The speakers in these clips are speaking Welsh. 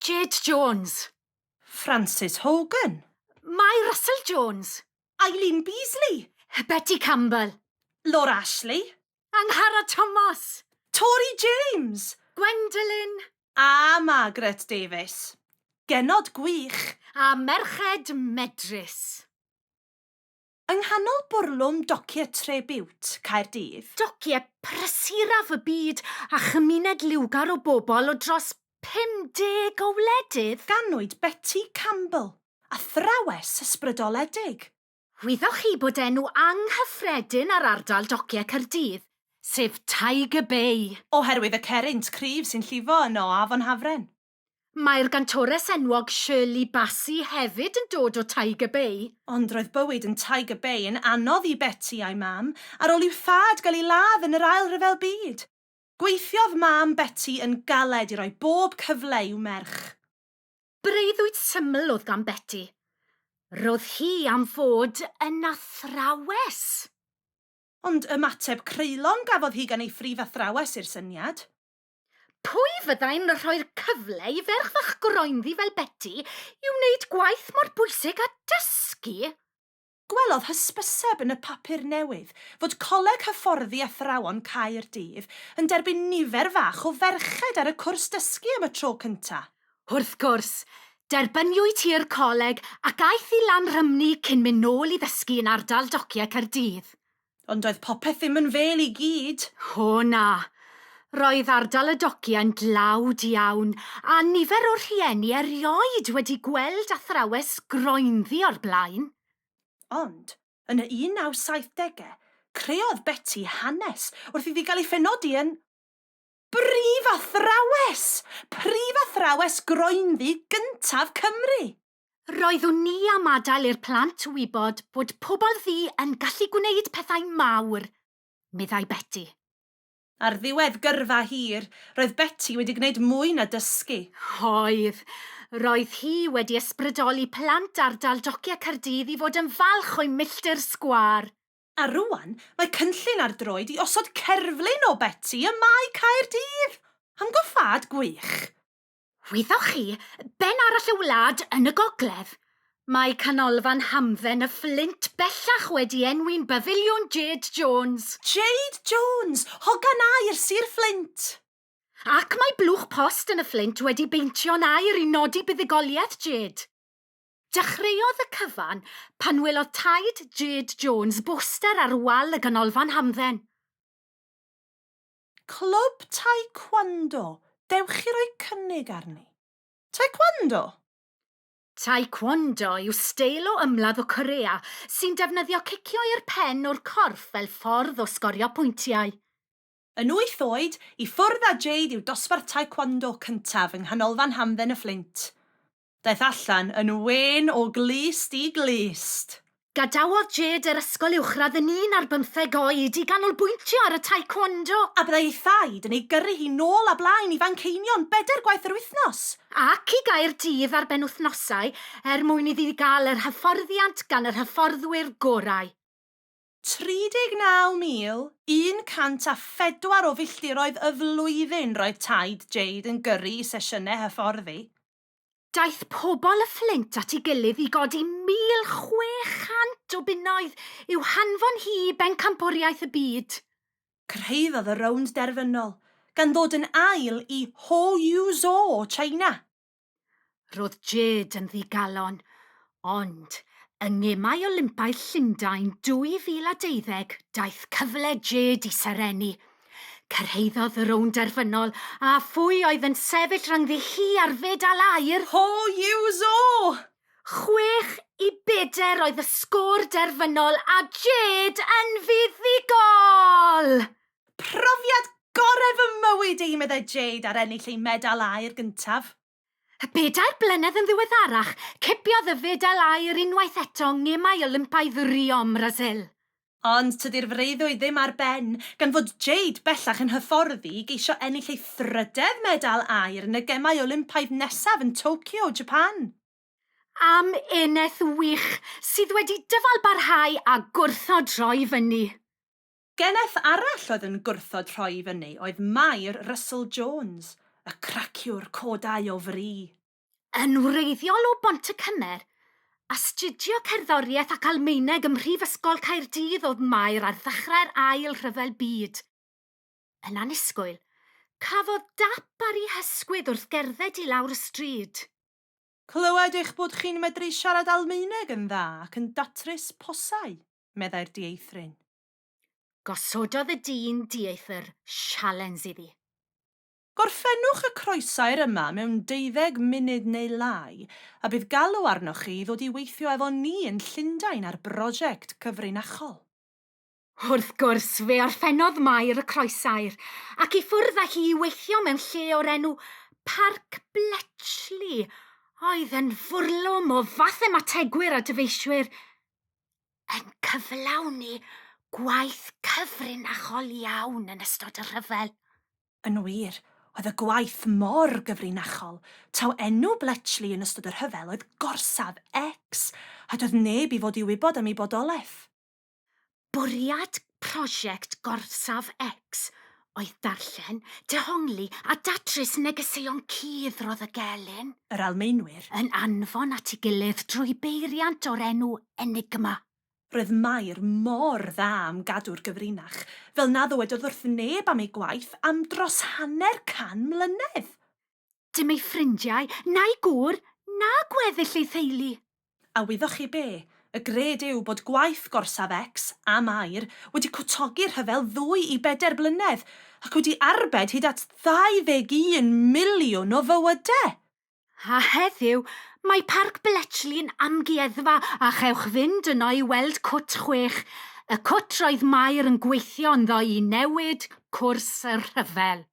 Jade Jones. Frances Hogan. Mae Russell Jones. Eileen Beasley. Betty Campbell. Laura Ashley. Angharad Thomas. Tori James. Gwendolyn. A Margaret Davies. Genod gwych. A merched medrus. Yng nghanol bwrlwm Docie Tribute, Caerdydd. Docie prysuraf y byd a chymuned liwgar o bobl o dros 50 o wledydd. Ganwyd Betty Campbell, athrawes ysbrydoledig. Wyddoch chi bod enw anghyffredin ar ardal Docie Caerdydd, sef Tiger Bay? Oherwydd y cerrynt cryf sy'n llifo yno o Afon Hafren. Mae'r gantores enwog Shirley Bassey hefyd yn dod o Tiger Bay. Ond roedd bywyd yn Tiger Bay yn anodd i Betty a'i mam ar ôl i'w thad gael ei ladd yn yr Ail Ryfel Byd. Gweithiodd mam Betty yn galed i roi bob cyfle i'w merch. Breuddwyd syml oedd gan Betty. Roedd hi am fod yn athrawes. Ond ymateb creulon gafodd hi gan ei phrif athrawes i'r syniad. Pwy fyddai'n rhoi'r cyfle i ferch fach groenddi fel Beti i wneud gwaith mor bwysig â dysgu? Gwelodd hysbyseb yn y papur newydd fod Coleg Hyfforddi Athrawon Caerdydd yn derbyn nifer fach o ferched ar y cwrs dysgu am y tro cyntaf. Wrth gwrs, derbyniwyd hi'r coleg ac aeth i Lanrhymni cyn mynd nôl i ddysgu yn ardal Dociau Caerdydd. Ond doedd popeth ddim yn fêl i gyd. O na. Roedd ardal y dogiau'n dlawd iawn, a nifer o'r rhieni erioed wedi gweld athrawes groenddu o'r blaen. Ond, yn y 1970au, creodd Beti hanes wrth iddi gael ei phenodi yn Brifathrawes! Prifathrawes groenddu gyntaf Cymru! Roeddwn ni am adael i'r plant wybod bod pobl ddu yn gallu gwneud pethau mawr, meddai Beti. Ar ddiwedd gyrfa hir, roedd Beti wedi gwneud mwy na dysgu. Oedd. Roedd hi wedi ysbrydoli plant ardal Dociau Caerdydd i fod yn falch o'u milltir sgwâr. A rŵan, mae cynllun ar droed i osod cerflun o Beti ym Mae Caerdydd! Amgylchiad gwych! Wyddoch chi, ben arall y wlad yn y gogledd, mae Canolfan Hamdden y Fflint bellach wedi enwi'n Bafiliwn Jade Jones. Jade Jones, hogan aer Sir Fflint! Ac mae blwch post yn y Fflint wedi beintio'n aer i nodi buddugoliaeth Jade. Dechreuodd y cyfan pan welodd taid Jade Jones boster ar wal y Ganolfan Hamdden. Clwb Taekwondo, dewch i roi cynnig arni. Taekwondo? Taekwondo yw steil o ymladd o Corea sy'n defnyddio cicio i'r pen o'r corff fel ffordd o sgorio pwyntiau. Yn wyth oed, i ffwrdd â Jade yw dosbarth Taekwondo cyntaf yng Nghanolfan Hamdden y Fflint. Daeth allan yn wên o glust i glust! Gadawodd Jade yr ysgol uwchradd yn un ar bymtheg oed i ganolbwyntio ar y taekwondo. A byddai ei thaid yn ei gyrru hi nôl a blaen i Fanceinion bedair gwaith yr wythnos! Ac i Gaerdydd ar benwythnosau er mwyn iddi gael yr hyfforddiant gan yr hyfforddwyr gorau. 39,104 o filltiroedd y flwyddyn roedd taid Jade yn gyrru i sesiynau hyfforddi. Daeth pobl y Fflint at ei gilydd i godi 1,600 o bunnoedd i'w hanfon hi i Bencampwriaeth y Byd. Cyrhaeddodd y rownd derfynol, gan ddod yn ail i Hou Yu Zhou o China. Roedd Jade yn ddigalon, ond yng Ngemau Olympaidd Llundain 2012 daeth cyfle Jade i serennu. Cyrhaeddodd y rownd derfynol a phwy oedd yn sefyll rhyngddi hi a'r fedal aur? Ho Yuzhou! Chwech i bedr oedd y sgôr derfynol a Jade yn fuddugol! Profiad gorau fy mywyd i, meddai Jade ar ennill ei medal aur gyntaf. Y bedair blynedd yn ddiweddarach, cipiodd y fedal aur unwaith eto yng Ngemau Olympaidd Rio ym Mrasil. Ond tydi'r freuddwyd ddim ar ben, gan fod Jade bellach yn hyfforddi i geisio ennill ei thrydedd medal aur yn y Gemau Olympaidd nesaf yn Tokyo, Japan. Am eneth wych, sydd wedi dyfalbarhau a gwrthod rhoi fyny. Geneth arall oedd yn gwrthod rhoi i fyny oedd Mair Russell Jones, y craciwr codau o fri. Yn wreiddiol o Bontycymer, astudio cerddoriaeth ac Almaeneg ym Mhrifysgol Caerdydd oedd Mair ar ddechrau'r Ail Rhyfel Byd. Yn annisgwyl, cafodd dap ar ei hysgwydd wrth gerdded i lawr y stryd. Clywed eich bod chi'n medru siarad Almaeneg yn dda ac yn datrys posau. meddai'r dieithryn. Gosododd y dyn dieithr sialens iddi. Gorffennwch y croesair yma mewn deuddeg munud neu lai, a bydd galw arnoch chi i ddod i weithio efo ni yn Llundain ar brosiect cyfrinachol. Wrth gwrs, fe orffennodd Mair y croesair, ac i ffwrdd â hi i weithio mewn lle o'r enw Parc Bletchley, oedd yn fwrlwm o fathemategwyr a dyfeisiwyr. yn cyflawni gwaith cyfrinachol iawn yn ystod y rhyfel. Yn wir, oedd y gwaith mor gyfrinachol taw enw Bletchley yn ystod y rhyfel oedd Gorsaf X a doedd neb i fod i wybod am ei bodolaeth. Bwriad Prosiect Gorsaf X oedd darllen, dehongli a datrys negeseuon cudd roedd y gelyn, yr Almaenwyr, yn anfon at ei gilydd drwy beiriant o'r enw Enigma. Roedd Mair mor dda am gadw'r gyfrinach, fel na ddywedodd wrth neb am ei gwaith am dros hanner can mlynedd! Dim ei ffrindiau, na'i gŵr, na gweddill ei theulu. A wyddoch chi be? Y gred yw bod gwaith gorsaf X, a Mair, wedi cwtogi'r rhyfel ddwy i bedair blynedd, ac wedi arbed hyd at 21 miliwn o fywyde! A heddiw, mae Parc Bletchley yn amgueddfa, a chewch fynd yno i weld cwt chwech, y cwt roedd Mair yn gweithio ynddo i newid cwrs y rhyfel.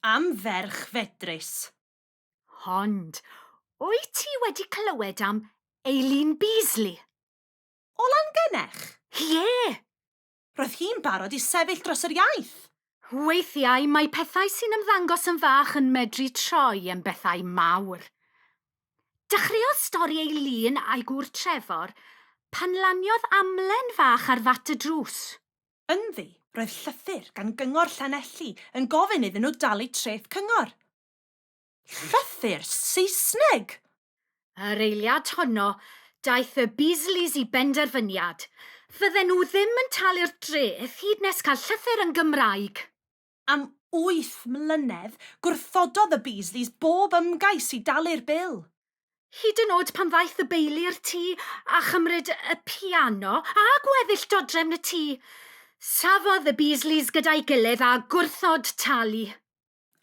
Am ferch fedrus. Ond, wyt ti wedi clywed am Eileen Beasley? O Langennech? Ie! Roedd hi'n barod i sefyll dros yr iaith! Weithiau mae pethau sy'n ymddangos yn fach yn medru troi yn bethau mawr. Dechreuodd stori Eileen a'i gŵr Trevor pan laniodd amlen fach ar fat y drws. Ynddi, roedd llythyr gan Gyngor Llanelli yn gofyn iddyn nhw dalu treth cyngor. Llythyr Saesneg! Yr eiliad honno, daeth y Beasleys i benderfyniad, fydden nhw ddim yn talu'r dreth hyd nes cael llythyr yn Gymraeg. Am wyth mlynedd, gwrthododd y Beasleys bob ymgais i dalu'r bil. Hyd yn oed pan ddaeth y Beili i'r tŷ a chymryd y piano a gweddill dodrefn y tŷ. Safodd y Beasleys gyda'i gilydd a gwrthod talu.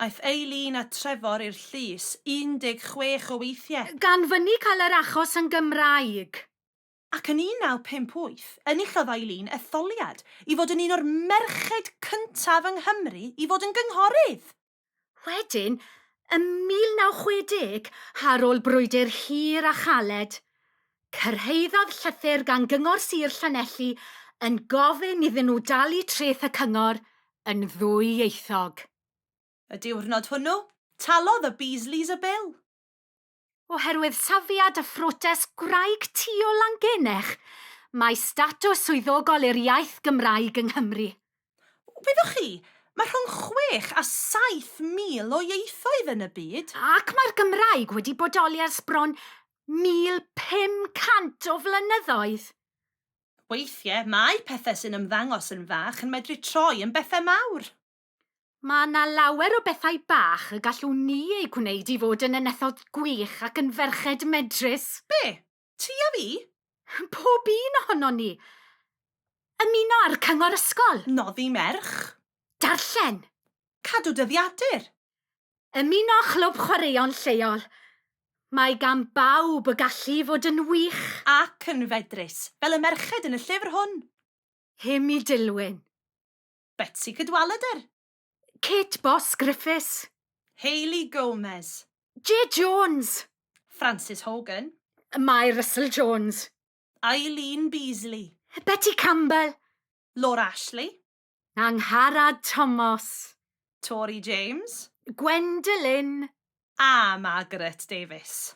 Aeth Eileen a Trevor i'r llys 16 o weithiau. Gan fynnu cael yr achos yn Gymraeg. Ac yn 1958, enillodd Eileen etholiad i fod yn un o'r merched cyntaf yng Nghymru i fod yn gynghorydd! Wedyn, ym 1960, ar ôl brwydr hir a chaled, cyrhaeddodd llythyr gan Gyngor Sir Llanelli yn gofyn iddyn nhw dalu treth y cyngor yn ddwyieithog. Y diwrnod hwnnw, talodd y Beasleys y bil. Oherwydd safiad a phrotest gwraig ti o Langennech, mae statws swyddogol i'r iaith Gymraeg yng Nghymru. Wyddoch chi, mae rhwng chwech a saith mil o ieithoedd yn y byd. Ac mae'r Gymraeg wedi bodoli ers bron 1,500 o flynyddoedd. Weithiau, mae pethau sy'n ymddangos yn fach yn medru troi yn bethau mawr. Mae yna lawer o bethau bach y gallwn ni eu gwneud i fod yn enethod gwych ac yn ferched medrus. Be? Ti a fi? Pob un ohonon ni. Ymuno â'r cyngor ysgol. Noddi merch. Darllen. Cadw dyddiadur. Ymuno â chlwb chwaraeon lleol. Mae gan bawb y gallu i fod yn wych. Ac yn fedrus, fel y merched yn y llyfr hwn. Hym i Dilwyn. Betsi Cadwaladr. Kate Boss Griffiths. Hayley Gomez. Jay Jones. Frances Hogan. Mae Russell Jones. Eileen Beasley. Betty Campbell. Laura Ashley. Angharad Tomos. Tori James. Gwendolyn. A Margaret Davies.